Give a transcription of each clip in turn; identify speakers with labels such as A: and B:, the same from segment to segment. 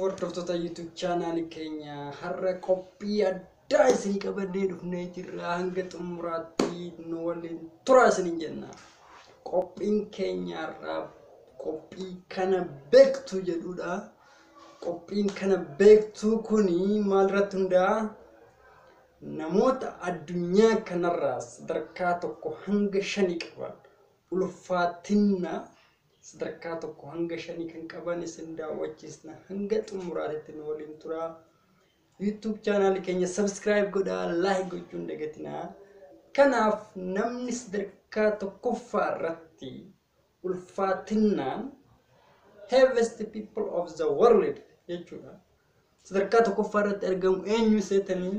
A: Hordoftoota YouTube chaanaalii keenya har'a qophii addaa isin qabannee dhufnee jirra. Hanga xumuraatti nu waliin turaa isiniin jenna. Qophiin keenya har'aa qophii kana beektu jedhudha. Qophiin kana beektu kuni maalirratti hundaa'a? Namoota addunyaa kanarraa sadarkaa tokko hanga shanii qaban ulfaatina sadarkaa tokko hanga shanii kan qaban isin daawwachiisna hanga xumuraatitti nu waliin turaa YouTube chaanaali keenya subscribe godhaa like gochuun dagatinaa kanaaf namni sadarkaa tokkoffaa irratti ulfaatinnaan heaviest people of the world jechuudha Sadarkaa tokkoffaa irratti argamu eenyu seetanii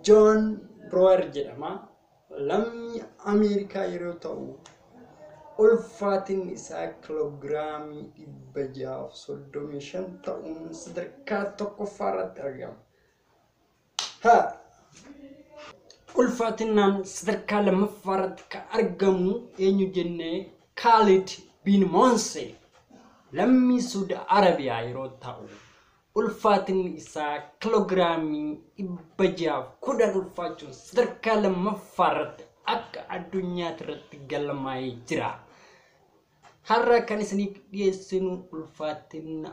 A: Joon Biroower jedhama. Lammii Ameerikaa yeroo ta'u ulfaatinni isaa kiloogiraamii dhibba jahaaf soddomii shan ta'uun sadarkaa tokkoffaa irratti argama. Ha! Ulfaatinaan sadarkaa lammaffaa irratti kan argamu eenyu jennee Kaalid bin Moonse lammii Suudi Arabiyaa yeroo ta'u ulfaatinni isaa kiloogiraamii dhibba jaaf kudhan ulfaachuun sadarkaa lammaffaa irratti akka addunyaatti irratti galmaa'ee jira. Har'a kan isiniif dhiyeessinu ulfaatina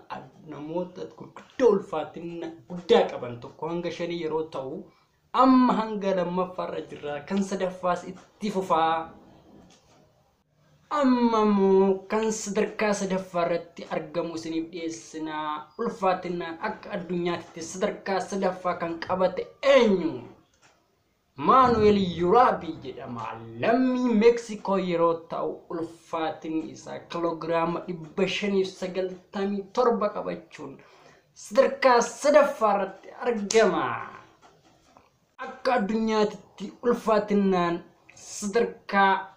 A: namoota gurguddoo ulfaatina guddaa qaban tokko hanga shanii yeroo ta'u amma hanga lammaffaarra jirra kan sadaffaas itti fufaa amma immoo kan sadarkaa sadaffaa irratti argamu isiniif dhiyeessina ulfaatinaan akka addunyaatti sadarkaa sadaffaa kan qabate eenyu Maanu'eel Yuraabii jedhama. Lammii Meeksikoo yeroo ta'u ulfaatinni isaa kiloogiraama 597 qabachuun sadarkaa sadaffaa irratti argama. Akka addunyaatitti ulfaatinnaan sadarkaa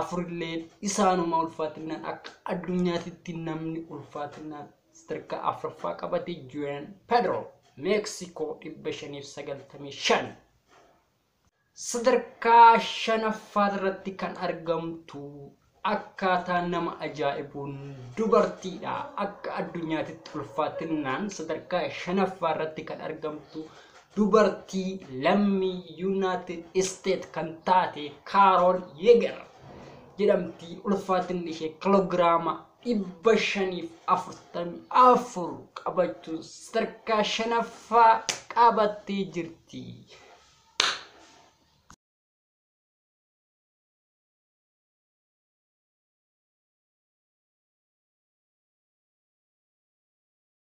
A: afurillee isaanuma ulfaatinaan akka addunyaatitti namni ulfaatinaan sadarkaa afraffaa qabate Juan Pedro Meeksikoo 595. Sadarkaa shanaffaa irratti kan argamtu akkaataa nama ajaa'ibuun dubartiidha. Akka addunyaatitti ulfaatinaan sadarkaa shanaffaa irratti kan argamtu Dubartii lammii Yuunaayitid Isteet kan taate Kaarool Yeegar jedhamti. Ulfaatinni ishee kiloogiraama 544 qabachuun sadarkaa shanaffaa qabattee jirti.